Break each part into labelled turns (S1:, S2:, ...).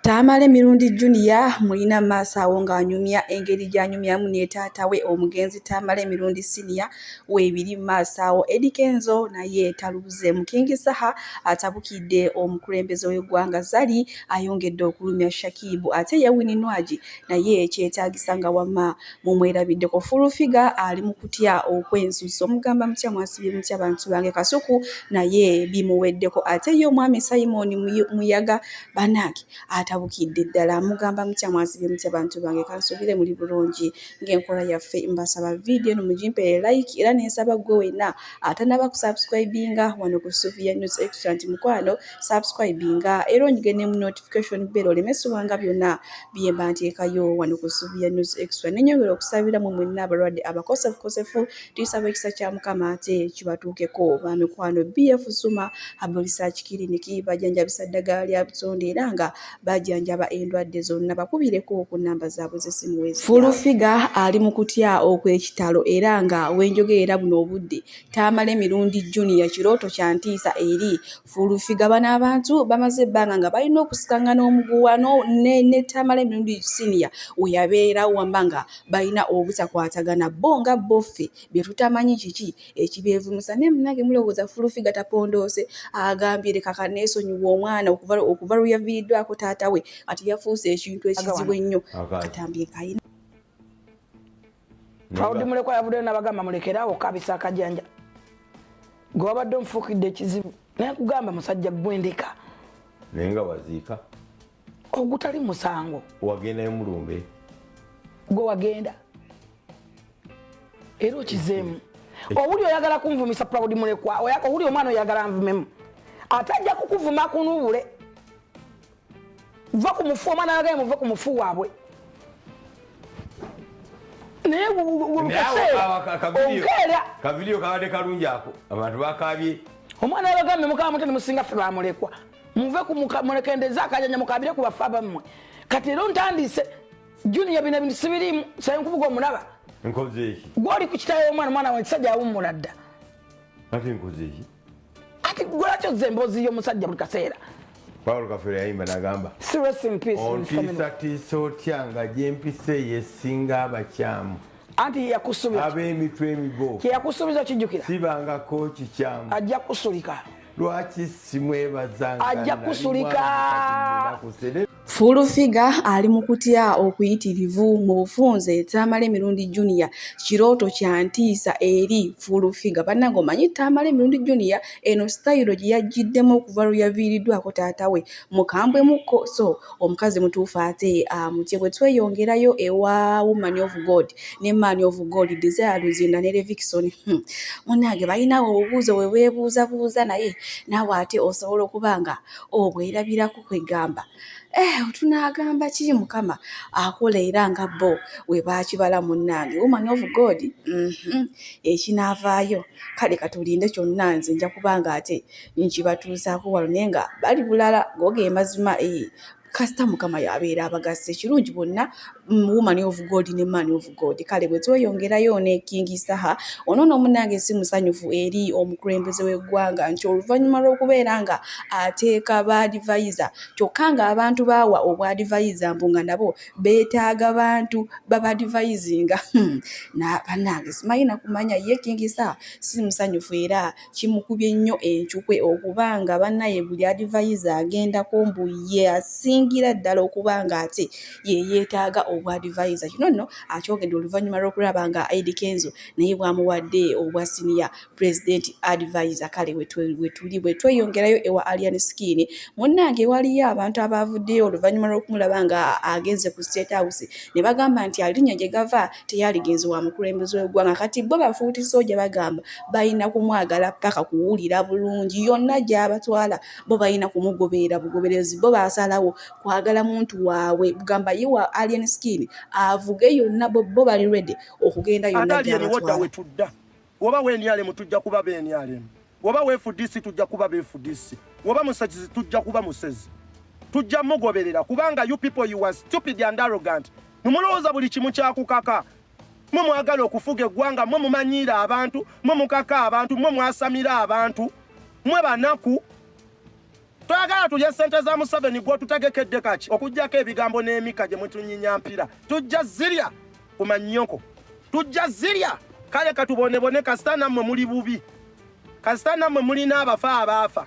S1: Tamale Mirundi Junior mulina mu maaso awo ng'anyumya engeri gy'anyumyamu ne taata we omugenzi Tamale Mirundi Senior weebiri mu maaso awo. Eddy Kenzo naye talubuzeemu. King Saha atabukidde omukulembeze w'eggwanga. Zari ayongedde okulumya Shakib ate ye Winnie Nwagi naye kyetaagisa nga wama mumwerabiddeko full figure ali mu kutya okwensuso mugamba mutya mwasibye mutya bantu bange kasuku naye bimuweddeko ate ye omwami simon muyaga banange atabukidde ddala mugamba mutya mwasibye mutya bantu bange kansubire muli bulungi ng'enkola yaffe mbasaba vidiyo eno mugimpere like era nensaba gwe wenna atanaba kusubscribinga wano ku suvia news extra nti mukwano subscribinga era onyige ne mu notification bero olemesibwanga byonna bye mba nteekayo wano ku ssuubi ya news extra ne nyongera okusabira mu mwenna abalwadde abakosefukosefu tuyisaba ekisa kya mukama ate kibatuukeko ba mikwano bf suma abolisaaki kiriniki bajanjabisa ddagala lya butonde era nga bajanjaba endwadde zonna bakubireko ku namba zaabwe z'essimu wezi fulufiga ali mu kutya okw'ekitalo era nga wenjogeera buno obudde taamala emirundi juniya kirooto kya ntiisa eri Fuuluffiga bano abantu bamaze ebbanga nga balina okusikangana omuguwa ne Tamale Mirundi Senior we yabeera wamba nga balina obutakwatagana bo nga bo ffe bye tutamanyi kiki ekibeevumisa naye munange mulowooza Fuuluffiga tapondoose agambye leka kaneesonyiwa omwana okuva lwe yaviiriddwako taata we kati yafuuse ekintu ekizibu ennyo katambye kayina
S2: proud mulekwa yavuddeyo nabagamba mulekerawo kabisa akajanja gwe wabadde omufuukidde ekizibu naye kugamba musajja gwendeka naye nga
S3: waziika ogutali
S2: musango wagendayo mulumbe
S3: gwe
S2: wagenda era okizeemu owuli oyagala kunvumisa proud mulekwa owuli omwana oyagala nvumemu ate ajja kukuvuma kunubule va ku mufu omwana yagaye muve ku mufu waabwe naye okeera
S3: kavidiyo kabadde kalungi ako abantu bakabye omwana yabagambye
S2: mukama mutene musinga ffe bamulekwa muve mulekendeza akajanja mukabire ku bafa bammwe kati era ontandise juniya bino bintu sibirimu saye nkubuga omulaba nkozeeki
S3: gwoli ku kitayo omwana
S2: omwana wankisajja awummula dda ate
S3: nkozeeki kati
S2: gwelakyo ze emboozi y'omusajja buli kaseera paul kafere
S3: yayimba nagamba
S2: ontiisatiisa
S3: otya nga gyempisa eyo esinga abakyamu anti yeyakusubiza
S2: ab'emitwe emigo
S3: kyeyakusubiza kijjukira
S2: sibangako
S3: kikyamu ajja kusulika
S2: lwaki
S3: simwebazanga ajja kusulika
S2: Full
S1: Figure ali mu kutya okuyitirivu mu bufunze Tamale Mirundi Junior kirooto kya ntiisa eri Full Figure. Bannange omanyi Tamale Mirundi Junior eno sitayiro gye yajjiddemu okuva lwe yaviiriddwako taata we mukambwe mukko so omukazi mutuufu ate amutye bwe tweyongerayo ewa Woman of God ne Man of God Desire Luzinda ne Levikison hmm. munnange balinawo obubuuzo bwe beebuuzabuuza naye naawe ate osobola okuba nga obwerabirako. kwegamba eh, tunaagamba kiri mukama akola era nga bo we baakibala munnange woman of god mhm, ekinaavaayo kale katulinde kyonna nze nja kuba nga ate nkibatuusaako walo naye nga bali bulala googe emazima ee eh, kasita mukama yabeera abagasa ekirungi bonna mm, woman of god ne man of God kale bwe tweyongerayo ne King Saha ono no munange si musanyufu eri omukulembeze w'eggwanga nti oluvannyuma lw'okubeera nga ateeka ba advisor kyokka nga abantu baawa obwa advisor mbu nga nabo beetaaga bantu baba advisinga hmm. na banange simanyi nakumanya ye King Saha si musanyufu era kimukubye nnyo encukwe okuba nga banaye buli adivayiza agendako mbu ye asingira ddala okuba nga ate yeyetaaga obwa adivayiza kino nno akyogedde oluvanyuma lw'okulaba nga Ed Kenzo naye bwamuwadde obwa siniya pulezidenti adivayiza kale wetuli bwetweyongerayo ewa Alien Skin munnange waliyo abantu abaavuddeyo oluvanyuma lw'okumulaba nga agenze ku State House ne bagamba nti alinnya gye gava teyaligenze wa mukulembeze w'eggwanga kati bo bafuuti sooja bagamba balina kumwagala paka kuwulira bulungi yonna gy'abatwala bo balina kumugoberera bugoberezi bo basalawo kwagala muntu waabwe bugamba ye wa alien skin avuge yonna bo bali redi okugenda yonna gy'abatwala
S4: Woba wenyalemu tujja kuba benyalemu. Woba wefudisi tujja kuba befudisi. Woba musezi tujja kuba musezi. Tujja mugoberera kubanga you people you are stupid and arrogant. Mumulowooza buli kimu kyakukaka. Mwe mwagala okufuga eggwanga, mwe mumanyiira abantu, mwe mukaka abantu, mwe mwasamira abantu. Mwe banaku Twagala tulye sente za Museveni gwotutegekedde kaki okujjako ebigambo n'emika gye mutunyinya mpira. Tujja zirya ku mannyoko. Tujja zirya kale katubonebone kasita nammwe muli bubi. Kasita nammwe mulina abafa abaafa.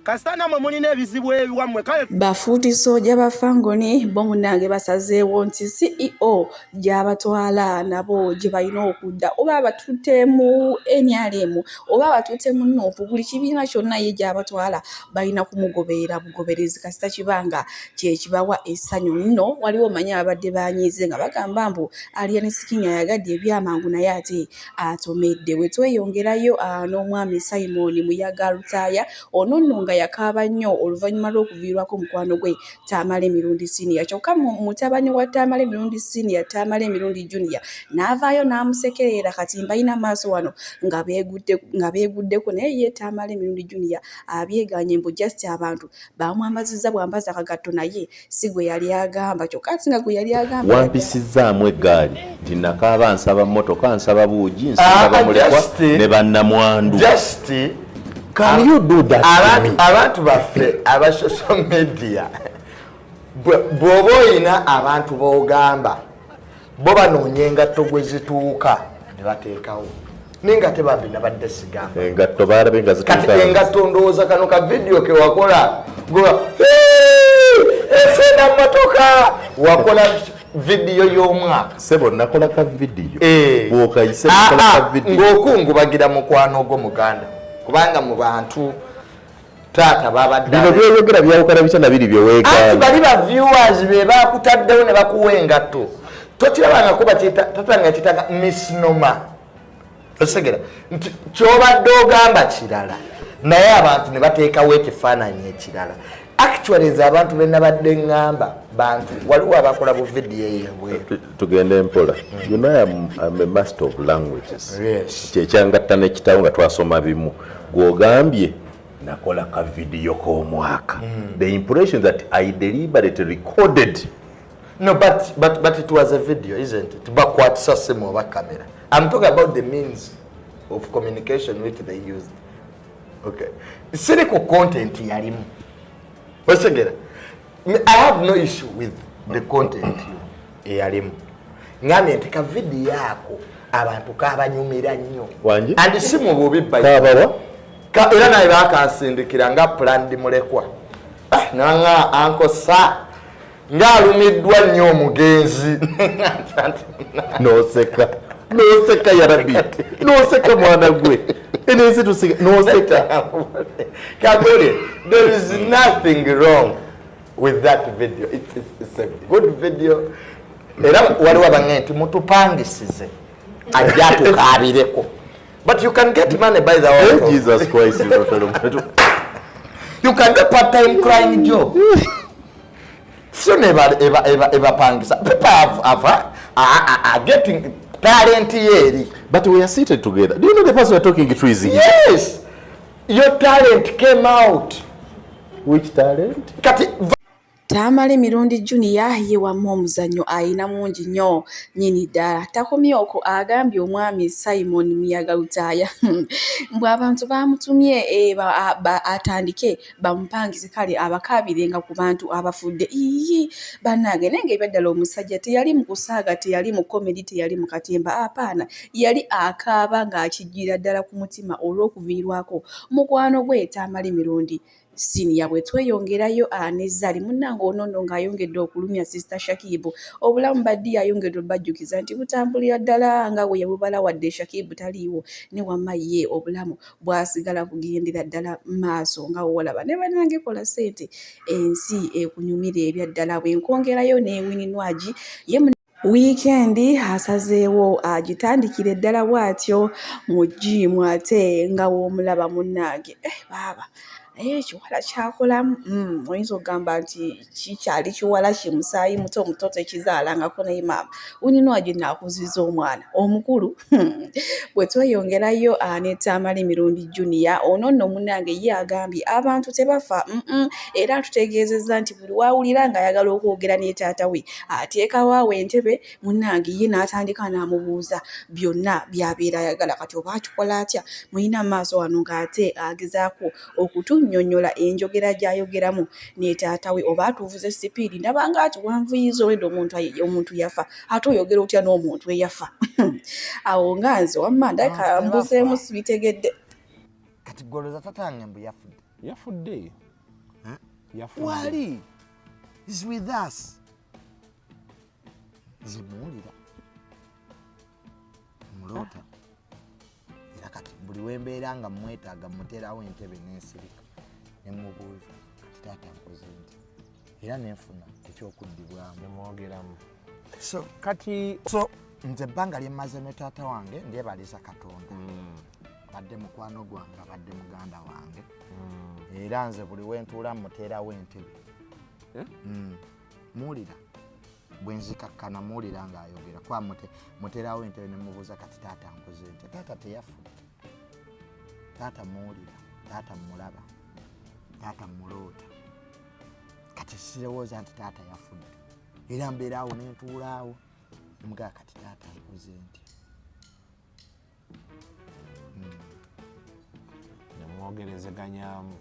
S4: Kasita nammwe mulina ebizibu ebiwammwe kale. Bafuuti sooja ba
S1: Fangoni bo munnange basazeewo nti CEO gyabatwala nabo gye balina okudda oba abatutte mu nrm oba abatutte mu nuupu buli kibiina kyonna ye gyabatwala balina kumugoberera bugoberezi kasita kiba nga kyekibawa essanyu nno waliwo manya ababadde banyiize nga bagamba mbu alien skin ayagadde ebyamangu naye ate atomedde bwe tweyongerayo ah, n'omwami simoni muyaga lutaaya ono nno nga yakaaba nnyo oluvannyuma lw'okuviirwako omukwano gwe Tamale Mirundi Senior kyokka mutabani wa Tamale Mirundi Senior Tamale Mirundi Junior n'avaayo n'amusekerera kati mbalina maaso wano nga beegudde nga beeguddeko naye ye Tamale Mirundi Junior abyeganye mbu just abantu baamwambazizza bwambaza akagatto naye si gwe yali agamba kyokka ati nga gwe yali agamba wampisizzaamu eggaali
S5: nti nakaaba nsaba mmotoka nsaba buugi nsaba ah, bamulekwa ne bannamwandu Can you do that? Abantu baffe
S6: aba social media bw'oba olina abantu b'ogamba bo banoonya engatto gwe zituuka ne bateekawo naye nga tebambi nabadde sigambakati
S5: engatto ndowooza
S6: kano ka vidiyo ke wakola goba efe na mmotoka wakola vidiyo y'omwaka sebo nakola ka
S5: vidiyo eh. bwokayise ah, nakola ka ah, vidiyo ng'okungubagira mukwano
S6: ogwo muganda kubanga mu bantu taata babaddaino byoyogera byawukana
S5: bitya na biri byewegaanti bali ba viewers
S6: be bakutaddewo ne bakuwa engatto tokirabangako batata nga kitanga misnoma osegera nti kyobadde ogamba kirala naye abantu ne bateekawo ekifaananyi ekirala actually nze abantu benabadde ŋŋamba bantu waliwo abakola bu vidiyo eyebweru tugende mpola
S5: you know I'm, I'm a master of languages kyekyangatta
S6: nekitawo
S5: nga twasoma bimu gwogambye nakola ka vidiyo k'omwaka mm. the impression that I deliberately recorded No, but,
S6: but, but it was a video, isn't it? Bakwatisa simu oba camera. I'm talking about the means of communication which they used. Okay. Siri ku content yalimu. Osegera. I have no issue with the content eyalimu. Ngambye nti ka video yako abantu kabanyumira nnyo. Wanji? And simu
S5: bubi
S6: bayi. Kabawa?
S5: Ka, era naye
S6: bakansindikira nga planned mulekwa. Ah, nanga anko sa. ng'alumiddwa nnyo omugenzi noseka
S5: noseka yarabi noseka mwana gwe enensi tusika noseka kagole
S6: there is nothing wrong with that video it's, it's, it's a good video era waliwo abange nti mutupangisize ajja tukabireko but you can get money by the way hey, eh, jesus christ you can get part time crying job sio neba eba eba eba pangisa people have, have are, are, are getting talent yeri but we are seated
S5: together do you know the person we are talking to is here yes
S6: your talent came out which
S5: talent kati
S1: Tamale Mirundi Junior ye wamma omuzannyo alina mungi nnyo nnyini ddala. Takomye okwo agambye omwami Simon Muyaga Lutaaya mbu abantu baamutumye eh, atandike bamupangize kale abakaabirenga ku bantu abafudde iyi bannange naye nga ebyaddala omusajja teyali mu kusaaga teyali mu komedi teyali mu katemba apaana yali akaaba ng'akijjira ddala ku mutima olw'okuviirwako mukwano gwe tamali mirundi siniya bwe tweyongerayo ah, ne zali munnange onono ng'ayongedde okulumya sisita shakibu obulamu baddi yayongedde obajjukiza nti butambulira ddala nga bwe yabubala wadde shakibu taliiwo ne wamma ye obulamu bwasigala kugendera ddala maaso nga wolaba ne banange kola sente ensi ekunyumira ebya ddala bwenkongerayo ne wininwagi ye wiikendi asazeewo agitandikire ddala bw'atyo mu jiimu ate nga w'omulaba munnange eh, baaba naye ekiwala kyakolamu mm, oyinza okugamba nti kikyali kiwala ki musaayi muto muto tekizaalangako naye maama unino agenda akuziza omwana omukulu hmm. bwe tweyongerayo anetaamala emirundi junia ono nno munange ye agambye abantu tebafa era atutegeezezza nti buli wawulira ng'ayagala okwogera ne taata we ateekawo awo entebe munange ye n'atandika n'amubuuza byonna byabeera ayagala kati oba akikola atya mulina maaso wano ng'ate agezaako okutunyonyola enjogera gyayogeramu netaata we oba atuvuze sipiidi ndaba nga atuwanvuyiza olwedda omuntu omuntu yafa ate oyogera otya n'omuntu eyafa awo nga nze wamma ndabika mbuzeemu sibitegedde kati
S6: goloza tatange mbu yafudde yafudde
S7: yafudde
S6: wali is with us nze muwulira muloota era kati buli wembeera nga mwetaaga muterawo entebe nensirika nemubuuza kati taata nkoze nti era nenfuna ekyokuddibwamu nemwogeramu
S7: so
S6: kati so nze ebbanga lyemmaze ne taata wange ndyebaliza katonda mm. abadde mukwano gwange abadde muganda wange mm. era nze buli wentuula muterawo entebe eh? mm. muwulira bwenzikakkana muwulira ng'ayogera kuba muterawo entebe ne mubuuza kati taata nkoze ntya taata teyafudde taata muwulira taata mulaba taata muloota kati sirowooza nti taata yafudde era mbeeraawo nentuulaawo emugaa kati taata nkoze ntya
S7: nemwogerezeganyamu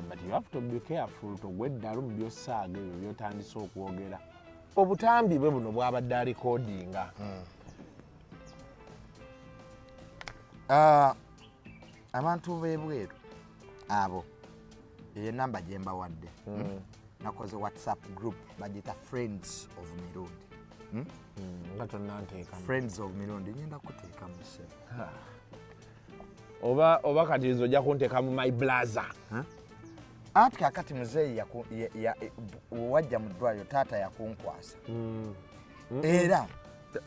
S7: but you have to be careful togwa eddalu mu byosaaga ebyo byotandise okwogera obutambi bwe buno bwabadde alikodinga hmm.
S6: ah, abantu bebweru abo eyo enamba gyembawadde hmm. hmm? nakoze whatsapp group bagita friends of mirundi
S7: hmm? friends of mirundi
S6: nyenda kuteeka muse
S7: oba oba kati nze ojja kunteeka mu my blaza
S6: anti kakati muzeeyi wajja mu ddwaliro taata yakunkwasa era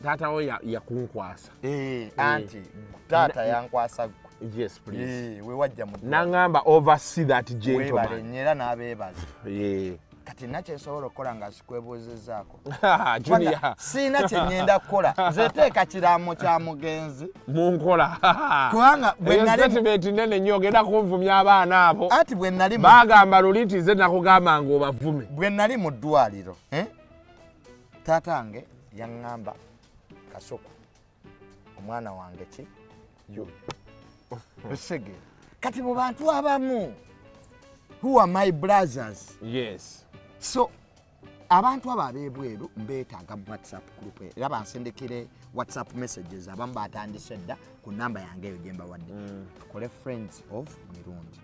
S6: taata
S7: wo yakunkwasa eh, eh. anti
S6: taata yankwasa gwe yes please
S7: eh, wewajja mu
S6: nangamba oversee
S7: that gentleman era nabebaza
S6: kati nakyensobola okukola nga sikwebuuzizaako
S7: siina kyengenda
S6: kukola nzeteeka kiraamo kya mugenzi munkola
S7: kubanga
S6: bwenalitimenti
S7: nene nyo ogenda kunvumya abaana abo ati bwenali bagamba
S6: luli nti nze
S7: nakugamba nga obavume bwe nali mu ddwaliro
S6: eh? taata wange yaŋŋamba kasuku omwana wange ki osege kati mu bantu abamu who are my brothers yes
S7: so
S6: abantu abo abebweru mbetaaga mu whatsapp group era bansindikire whatsapp messages abamu batandise dda ku namba yange eyo gyembawadde mm. tukole friends of mirundi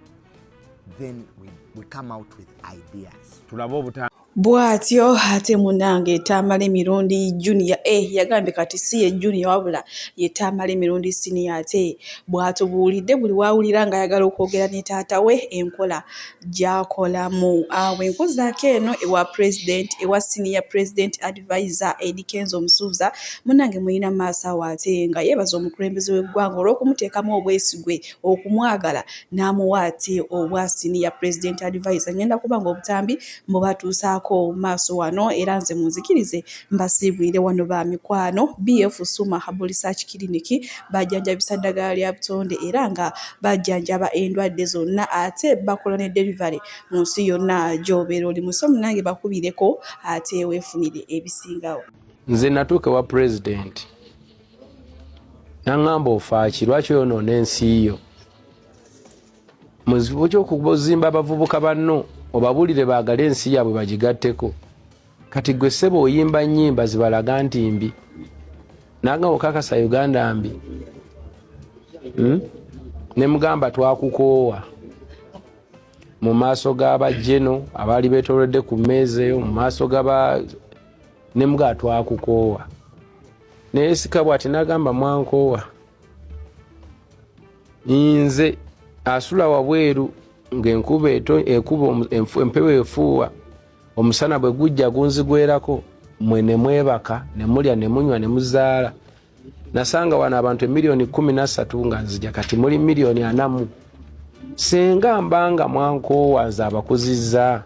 S6: then we, we come out with ideas tulabe obuta
S7: bwatyo
S1: ate munange tamala emirundi junior e eh, yagambye kati si ye junior wabula ye tamala emirundi siniya ate bwatubuulidde buli wawulira nga ayagala okwogera ne taata we enkola gyakolamu awo enkozaako eno ewa president ewa siniya president advisor edikenza omusuuza munange mulina maaso awo ate nga yeebaza omukulembeze w'eggwanga olw'okumuteekamu obwesigwe okumwagala n'amuwa ate obwa siniya president advisor ngenda kuba nga obutambi mubatuusaako maaso wano era nze munzikirize mbasiibulire wano ba mikwano BF Suma Herbal Research Clinic bajjanjabisa ddagala lya butonde era nga bajjanjaba endwadde zonna ate bakola ne delivery mu nsi yonna gy'obeera oli musi omunange bakubireko ate weefunire ebisingawo nze natuuka
S8: ewa pulezidenti naŋŋamba ofaaki lwaki oyonoona ensi yo mu kifo ky'okuzimba abavubuka banno obabuulire baagale ensi yaabwe bagigatteko kati gwe ssebo oyimba nnyimba zibalaga nti mbi nanga okakasa uganda mbi hmm? ne mugamba twakukoowa mu maaso g'abajeno abaali betolodde ku mmeeza eyo mu maaso gaba ne mugamba twakukoowa naye sikabwa ati nagamba mwankoowa nze asula wabweru ng'enkuba ekuba empewo efuuwa omusana bwe gujja gunzigwerako mwe ne mwebaka ne mulya ne munywa ne muzaala nasanga wano abantu emiliyoni kumi nasatu nga nzija kati muli miliyoni anamu singa mbanga mwankoowa nze abakuzizza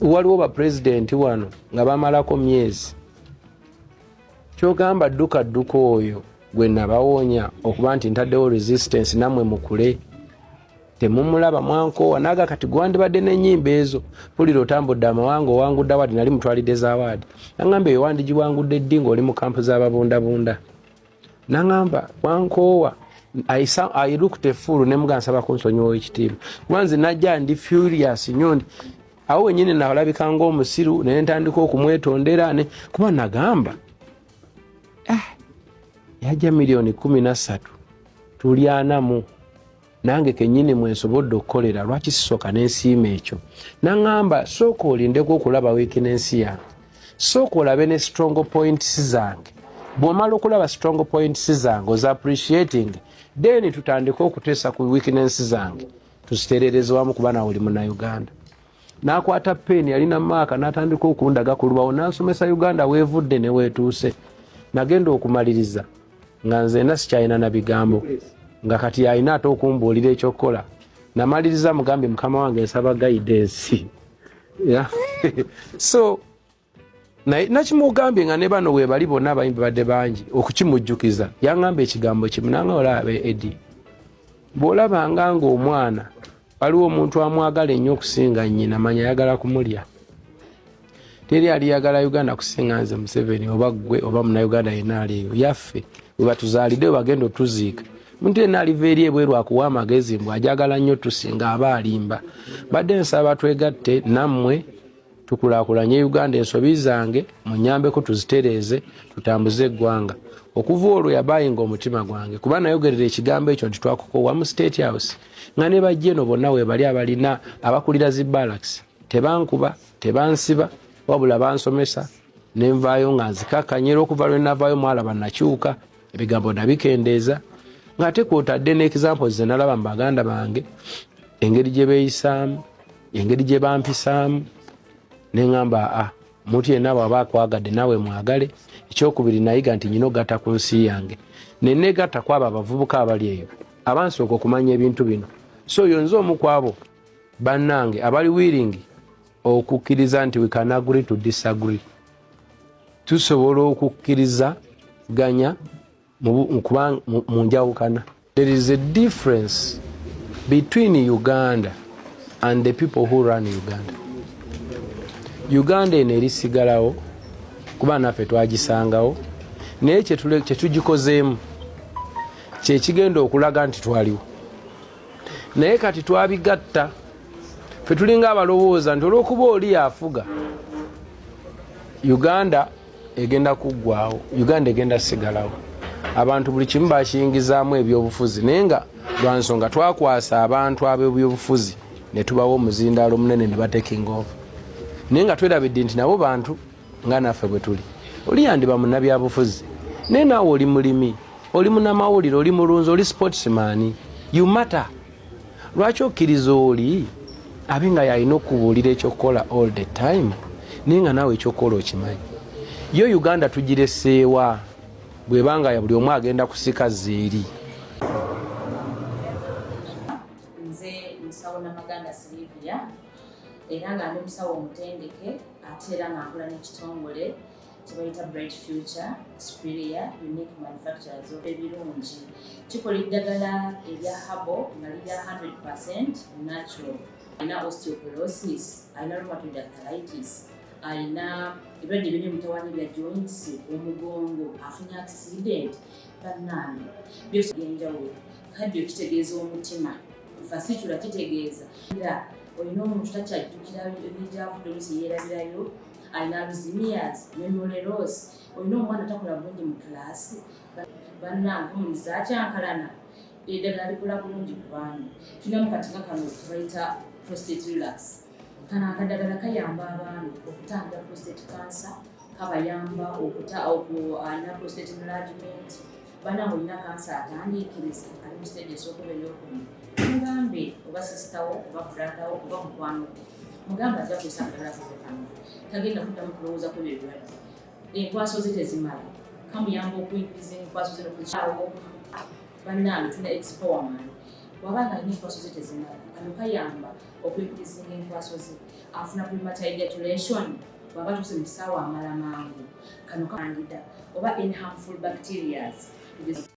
S8: waliwo bapulezidenti wano nga bamalako myezi kyogamba dduka dduka oyo gwe nabawonya okuba nti ntaddewo resistance namwe mukule temumulaba mwankoowa naga kati gwandibadde nenyimba ezo pulira otambudde amawanga owangudde awaadi nali mutwalidde zawaadi nangamba eyo wandigiwangudde ddi ngaoli mu kampu zababundabunda nangamba wankoowa ailuktefuulu nemuga nsaba kunsonyiwa ekitiibwa kuba nze najja ndi furious nyo awo wenyini nalabika ngaomusiru naye ntandika okumwetondera ne kuba nagamba ah, yaja miliyoni kumi nasatu tulyanamu nange kenyini mwensobodde okukolera lwaki sisoka nensiima ekyo naŋamba sooka olindeko okulaba wiiki nensi yange sooka olabe ne strong points zange bwomala okulaba strong points zange oza appreciating then tutandike okuteesa ku weakness zange tuziterereza wamu kuba nawe oli munauganda nakwata peni yalina maaka natandika okundaga ku lubawo nansomesa uganda wevudde newetuuse nagenda okumaliriza nga nzena sikyalina na bigambo nga kati yalina ate okumbuulira ekyokukola namaliriza mugambye mukama wange nsaba gaidensi so naye nakimugambye nga ne bano webali bonna abayimbi badde bangi okukimujjukiza yangamba ekigambo kimu nanga olaba edi bwolabanga nga omwana waliwo omuntu amwagala ennyo okusinga nyina manya ayagala kumulya teri aliyagala uganda kusinga nze museveni oba gwe oba munauganda yena aliyo yaffe webatuzalidde webagenda otuziika muntu yena aliva eri ebweru akuwa amagezi mbu ajagala nnyo tusinga aba alimba badde nsaba twegatte nammwe tukulakulanye uganda ensobi zange munyambeko tuzitereeze tutambuze eggwanga okuva olwo yabayinga omutima gwange kuba nayogerera ekigambo ekyo nti twakukowa mu state house nga ne bajja eno bonna webali abalina abakulira zi balaks tebankuba tebansiba wabula bansomesa nenvaayo nga nzikakanyera okuva lwenavaayo mwalaba nakyuka ebigambo nabikendeeza ng'ate kwotadde n'ekizampol ze nalaba mu baganda bange engeri gye beeyisaamu engeri gye bampisaamu ne ŋamba a ah, omuntu yenna bwaba akwagadde naawe mwagale ekyokubiri nayiga nti nyina ogatta ku nsi yange neneegatta ku abo abavubuka abali eyo abansooka okumanya ebintu bino so oyo nze omu ku abo bannange abali wiiringi okukkiriza nti we can agree to disagree tusobola okukkirizaganya kuba mu njawukana there is a difference between uganda and the people who run uganda uganda eno erisigalawo kuba naffe twagisangawo naye kyetugikozeemu kyekigenda okulaga nti twaliwo naye kati twabigatta fe tulinga abalowooza nti olwokuba oli afuga uganda egenda kuggwawo uganda egenda sigalawo abantu buli kimu bakiyingizaamu ebyobufuzi naye nga lwansonga twakwasa abantu abebyobufuzi netubawo omuzindaalo munene nebatekinga ova naye nga twerabidde nti nabo bantu nga naffe bwe tuli oli yandiba munabyabufuzi naye naawe oli mulimi oli munamawulire oli mulunzi oli sportsman you matter lwaki okkiriza oli abe nga yalina okubuulira ekyokukola all the time naye nga naawe ekyokukola okimanyi yo uganda tugireseewa bwebanga buli omu agenda kusika zeeri era
S9: nga ndi musawo omutendeke ate era nga nkola n'ekitongole kyebayita bright future superior unique manufacturers of ebirungi kikola eddagala erya habo nga lirya 100 percent natural alina osteoporosis alina rheumatoid arthritis alina ebirwadde biri mutawanyi bya joints omugongo afunye accident bannange byose byenjawulo kaddio kitegeeza omutima fasitula kitegeeza era olina omuntu takyajjukira ebijavudde olusi yeerabirayo alina luzimias memory loss olina omwana takola bulungi mu kiraasi bannange omuntu zakyankalana eddagala likola bulungi ku baami tulina mu katika kano kebayita prostate relax kano akadagala kayamba abaami okutangira prostate cancer kabayamba okuta alina prostate enlargement bana olina kansa atandiikiriza ali mu siteegi esooka oba eyokumi mugambe oba sisitawo oba bratawo oba mukwano mugambe ajja kuisagalakufekano tagenda kuddamu kulowooza ku ebyo ebirala enkwaso ze tezimala kamuyamba okuingiza enkwaso ze nokukyawo bannange tuna expowerman waba nga alina enkwaso ze tezimala kano kayamba okuingiza enkwaso ze afuna premature ejaculation bwaba tuuse mu kisaawe amala mangu kano kandida oba in harmful bacterias